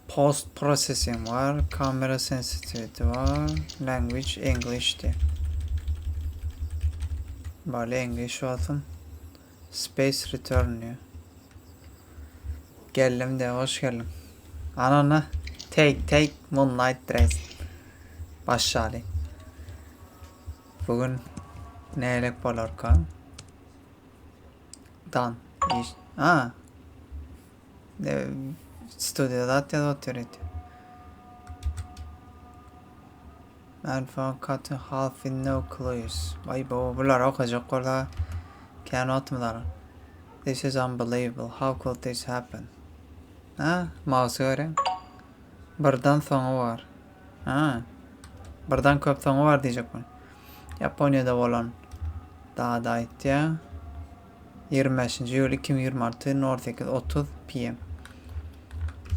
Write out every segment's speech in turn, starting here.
Post processing var, kamera sensitivity var, language English diye. Bale English olsun. Space return diye. Geldim de hoş geldin. Anana take take moonlight dress. Başladı. Bugün ne elek bolarka? Dan. Iş. A. Ne studiýa zat ýazyp otyr ýeti. Man from cutting half in no clues. Vay bu bular okajak bolsa kän wagtymyz alar. This is unbelievable. How could this happen? Ha, mouse göre. Birden soňy var. Ha. Birden köp soňy bar diýjek bol. Ýaponiýada bolan dada aýtýa. 25-nji iýul 2026 08:30 PM.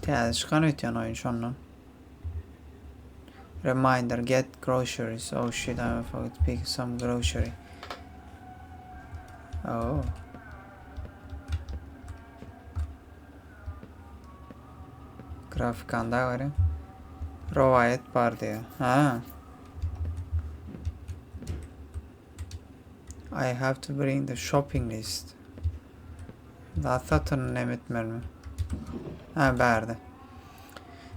Täze çykan öýtýän oýun şondan. Reminder get groceries. Oh shit, I forgot to pick some grocery. Oh. Grafikanda göre rowaýat bar diýär. Ha. I have to bring the shopping list. Da satyn näme etmelimi? Ha, bärde.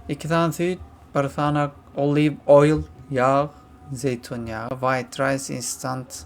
İki sany süýt, bir sanak olive oil, yağ, zeytun yağı, white rice, instant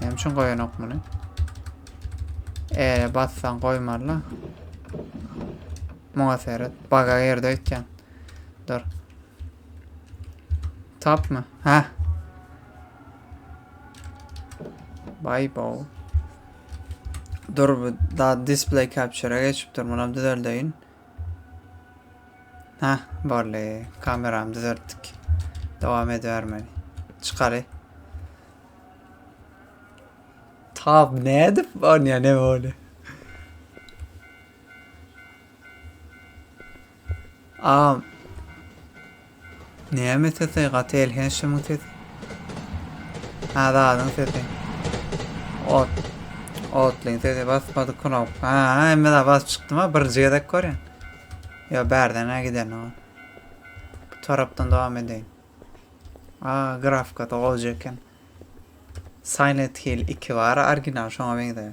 Näme üçin goýanok muny? Eee, bassan goýmarla. Muňa seret. Baga girdi öýtýän. Dur. Tapmy? Hä. Bay bow. Dur bu da display capture-a geçipdir. Munam düzeldeýin. Heh bolly kameramy düzeltdik. Dowam edibermeli. Çykaly. Tab ne edip onya ne bolly. Am Näme sesi gaty elhenç şumun sesi. Azadyň sesi. Ot. Otlyň sesi basmady knop. Ha, hemme da bas çykdym ha birinji gezek görýän. Yo bärden ha gidelim ha. Bu tarapdan devam edeýin. A, grafika da goja eken. Silent Hill 2 bar, original şoňa meňzeýär.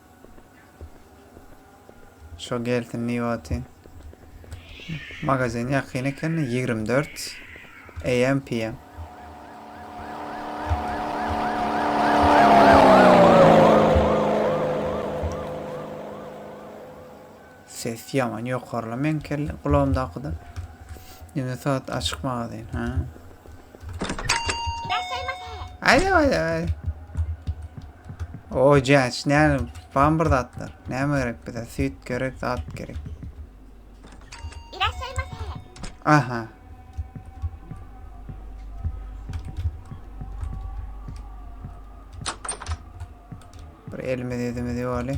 Şo gelsin niwatin. Magazin ýakyn eken 24 AM PM. Ses ýaman ýokarla meň kelle gulagymdakydan. Ýöne sagat açyk magazyn. Ha. Aýda aýda aýda. O jaç ne bam bir zatlar. Näme gerek bize? Süýt gerek, zat gerek. Aha. Bir elimiz edimiz ýoly.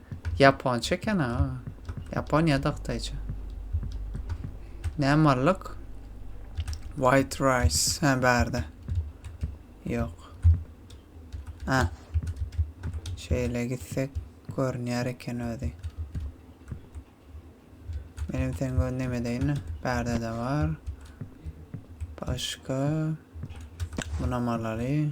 Ýaponça eken aga. Ýapon ýa-da hytaýça. Nämallyk? White rice. Hä, bärde. Ýok. Hä. Şeýle gitsek görünýär eken özi. Benim sen gö neme deyin? Bärde de bar. Başka. Buna malaly.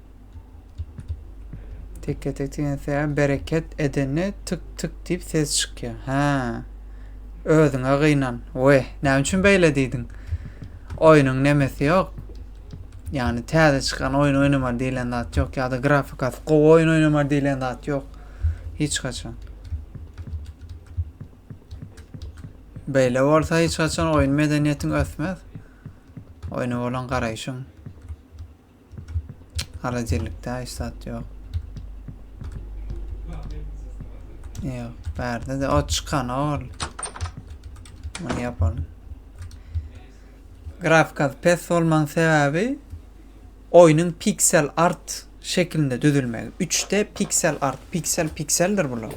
Tekke tek diýen söýä bereket edende tık tık diýip ses çykýar. Hä. Özüňe gynan. Oý, näme üçin beýle diýdiň? Oýnuň nemesi ýok. Ýagny täze çykan oýun oýnamaly diýlen zat ýok ýa-da grafikasy gowy oýun oýnamaly diýlen zat ýok. Hiç haçan. Beýle bolsa hiç haçan oýun medeniýetiň ösmez. Oýna bolan garaýşyň. Holodilnikde hiç zat ýok. Ýok, bärde de ot çykan ol. Muny ýapalım. Grafika pes bolmaň sebäbi oýnuň pixel art şekilinde düzülmegi. 3D pixel art, pixel pixeldir bular.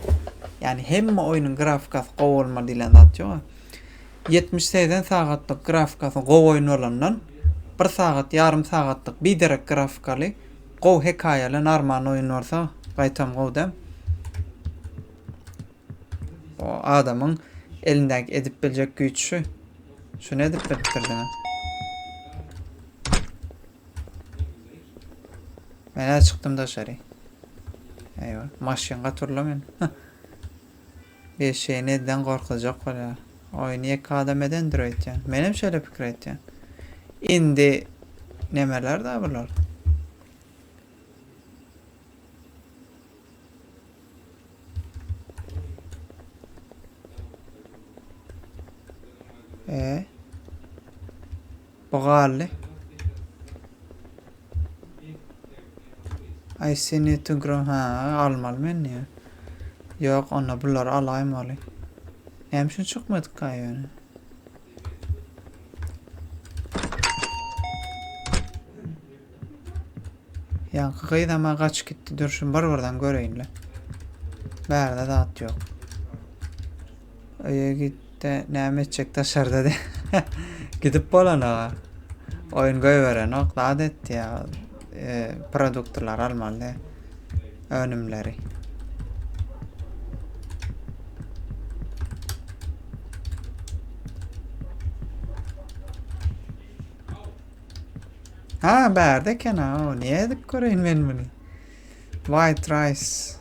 Yani hemme oýnuň grafikasy gowy bolmaly diýlen zat ýok. Ýetmiş segsen sagatlyk grafikasy gowy oýun bolandan, bir sagat ýarym sagatlyk biderek grafikaly, gowy hekaýaly narman oýun bolsa gaýtam gowy däm. O adamyň elindäki edip biljek güýç şu. Şuny edip bilipdir diňe. Men çykdym daşary. Eýwa, maşyn gaturla men. Eşeği neden gorkuzjak bolýar. Oýny ýeke adam edendir öýtýän. Menem şeýle pikir etýän. Indi nemeler-da bular. E. Bu galdy. I see need to grow. Ha, almaly men diýä. Ýok, onda bulary alaýmaly. Näme üçin çykmadyka ýöne? Ýaňky gyz ama gaçyp gitdi. Dur, şuny bir-birden göreýin-le. Bärde zat ýok. Öýe gitde näme etjek daşarda de. Gidip bolana. Oyun goýberenok, zat etdi ya. E, produktlar almaly de. Önümleri. Ha berde kena o. Niye edip göreyim ben bunu? White rice.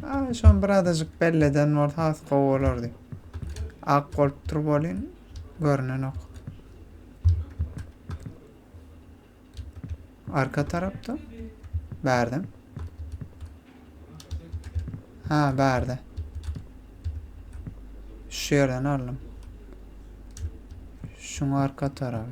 Ha, şon bir adajyk belleden bolsa has gowy bolardy. Ak bolup dur bolin, görünenok. Arka tarapda. Bärde. Ha, bärde. Şu yerden aldım. Şun arka tarafı.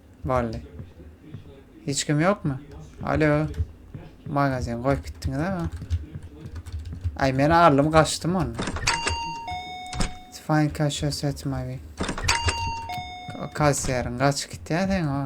Boldy. Hiç kim ýokmy? Alo. Magazin goýup gitdiňiz ama. Ay men aldım kaçtım onu. Find cash asset maybe. Kaç yarın kaç git ya sen o.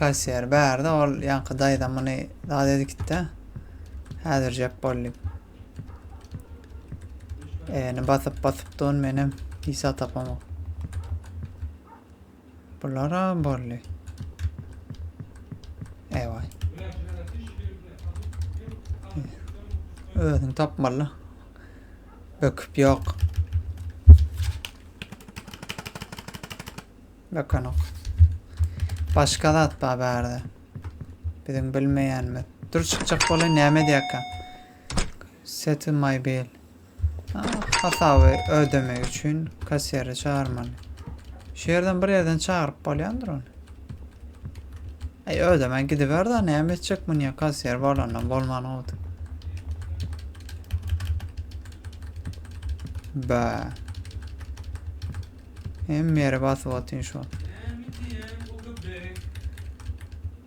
Kassiýer bärde ol ýaňky daýza muny zat edikde häzirjek boldy. Eni basyp basyp dun menem hisa tapamok. Bularam boldy. Ewaý. Özüň tapmaly. Böküp ýok. Bökenok. Başga zat bar bärde. Biziň bilmeýänimiz. Dur çykjak bolaý näme edýärkä? Set my bill. Hasaby ödemek üçin kassiri çagyrmaly. Şu ýerden bir ýerden çagyryp bolýandyr ony. Ay ödeme gidiber da näme etjek bu niye kasiyer bolandan bolman oldu. Ba. Hem yere basıp atayım şu an.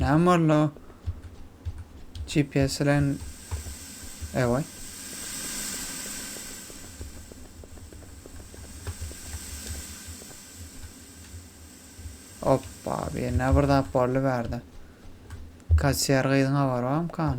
Näme boldy? GPS bilen Ewa. Hoppa, bir ne bir zat boldy bärde. Kaçýar gyzyň habary barmykan?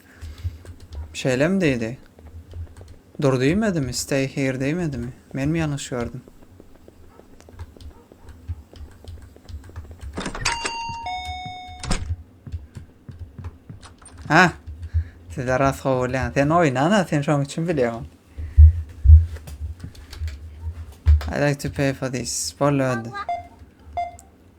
Şeýlemi diýdi? Dur diýmedimi? Stay here diýmedimi? Menmi ýalňyş gördüm? Ha? Sizler rast gowulýan. Sen oýnana, sen şoň üçin bilýän. I like to pay for this. Boldy, boldy.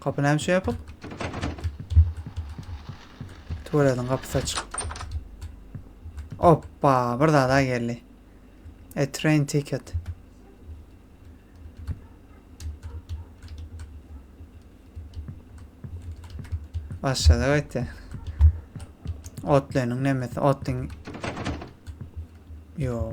Kapy nämişe ýapyk? Tuwelediň gapysy açyk. Oppa, bir zada geldi. A train ticket. Başladı gaýtdy. Otlanyň nemesi, otlyň... Yo.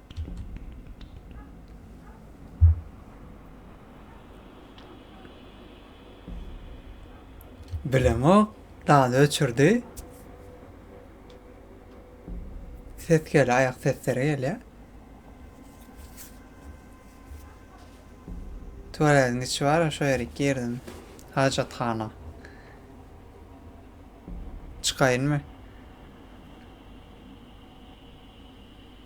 Bilemok, dady öçürdi. Ses gelýär, aýak sesleri gelýär. Tuwaletiň içi bar, şo ýere girdim. Hajathana. Çykaýynmy?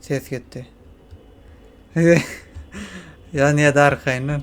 Ses gitti. ya niye de arkayından?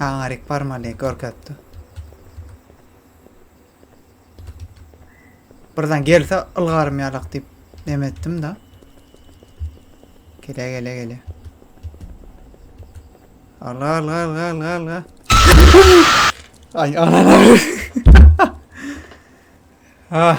Aňaryk barmaly görkezdi. Birden gelse ylgarym ýalak diýip neme etdim da. Gele gele gele. Alga alga alga alga alga. Ay anana. ah.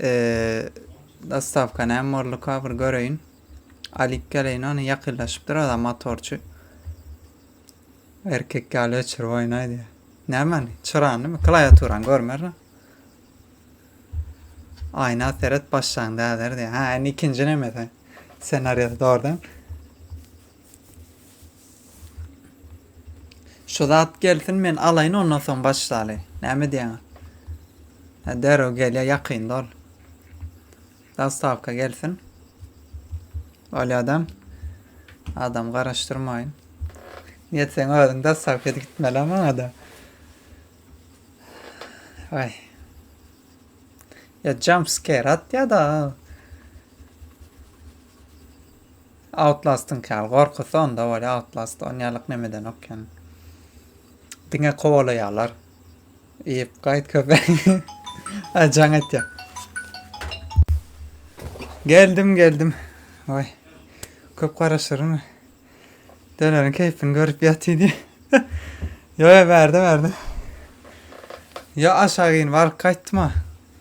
Eee dostawka näme borlyka bir göreýin. Alyp geleýin ony ýakynlaşyp durada motorçy. Erkek ýaly öçürip oýnaý diýýär. Nämeni? Çyranymy? Klawiaturany görmerin. Aýna seret başlaň däder diýýär. Ha, indi ikinji nemesi. Senariýasy dogrudan. Şu zat gelsin men alaýyn ondan soň başlaly. Näme diýýäňiz? Ha derrew gelýär ýakynda ol. Zastavka gelsin. Öyle adam. Adam garaşdyrmaýyn. Niýet sen özüň zastavka edip gitmeli maňa da. Ay. Ya jump scare at ya da. Outlast'yňky ýaly gorkusy onda bolýa outlast onýalyk nemedenok ýöne. Diňe kowalaýarlar. Iýip gaýt köpek. Ay jaň etýär. Geldim geldim. Oy. Köp garaşyryn. Dönerin keýpini görüp ýaty diýip. Yo yo bärde bärde. Yo aşağı in baryp gaýtdyma.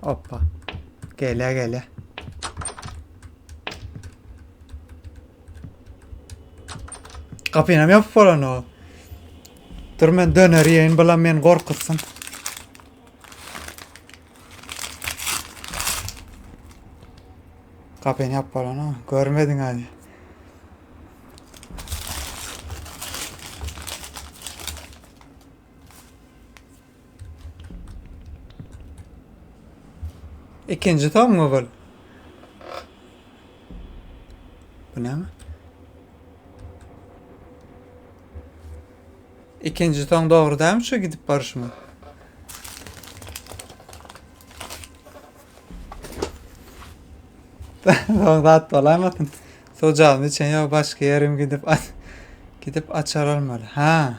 Hoppa. Gele gele. Kapynam ýapyp bolan o. Dur men döner ýeýin, bulam meni gorkutsun. Kapyny ýapyp bolan o. Görmediň hali. Ikinji soňmy bul? Bu näme? Ikinji soň dogry dämi şu gidip barşymy? Soň zat bolaýmasyn. Sojalyny içen ýok, başga ýerim gidip gidip açar almaly. Ha.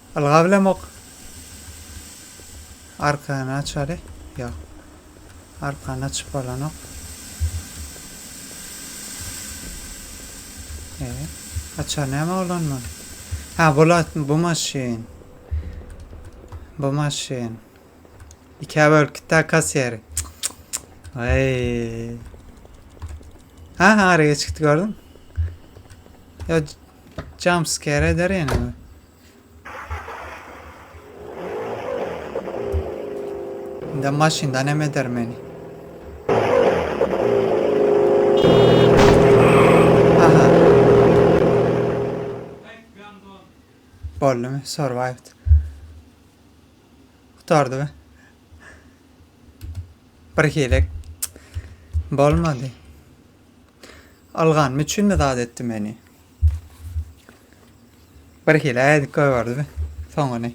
Ylgap bilemok. Arkany açaly. Ýok. Arkany açyp bolanok. E, açar näme bolan bu? Ha, bolat bu maşyn. Bu maşyn. İki bölüp gitti kasiyeri. Vay. Ha ha araya çıktı gördün. Ya Jump scare eder ýene bir. Indi maşyndan hem eder meni. Aha. Boldumy? Survived. Kurtardı be. Bir hilek. Bolmadı. Algan mı üçin mi zat etti meni? Bir hile edip koyardı be. Soňunu.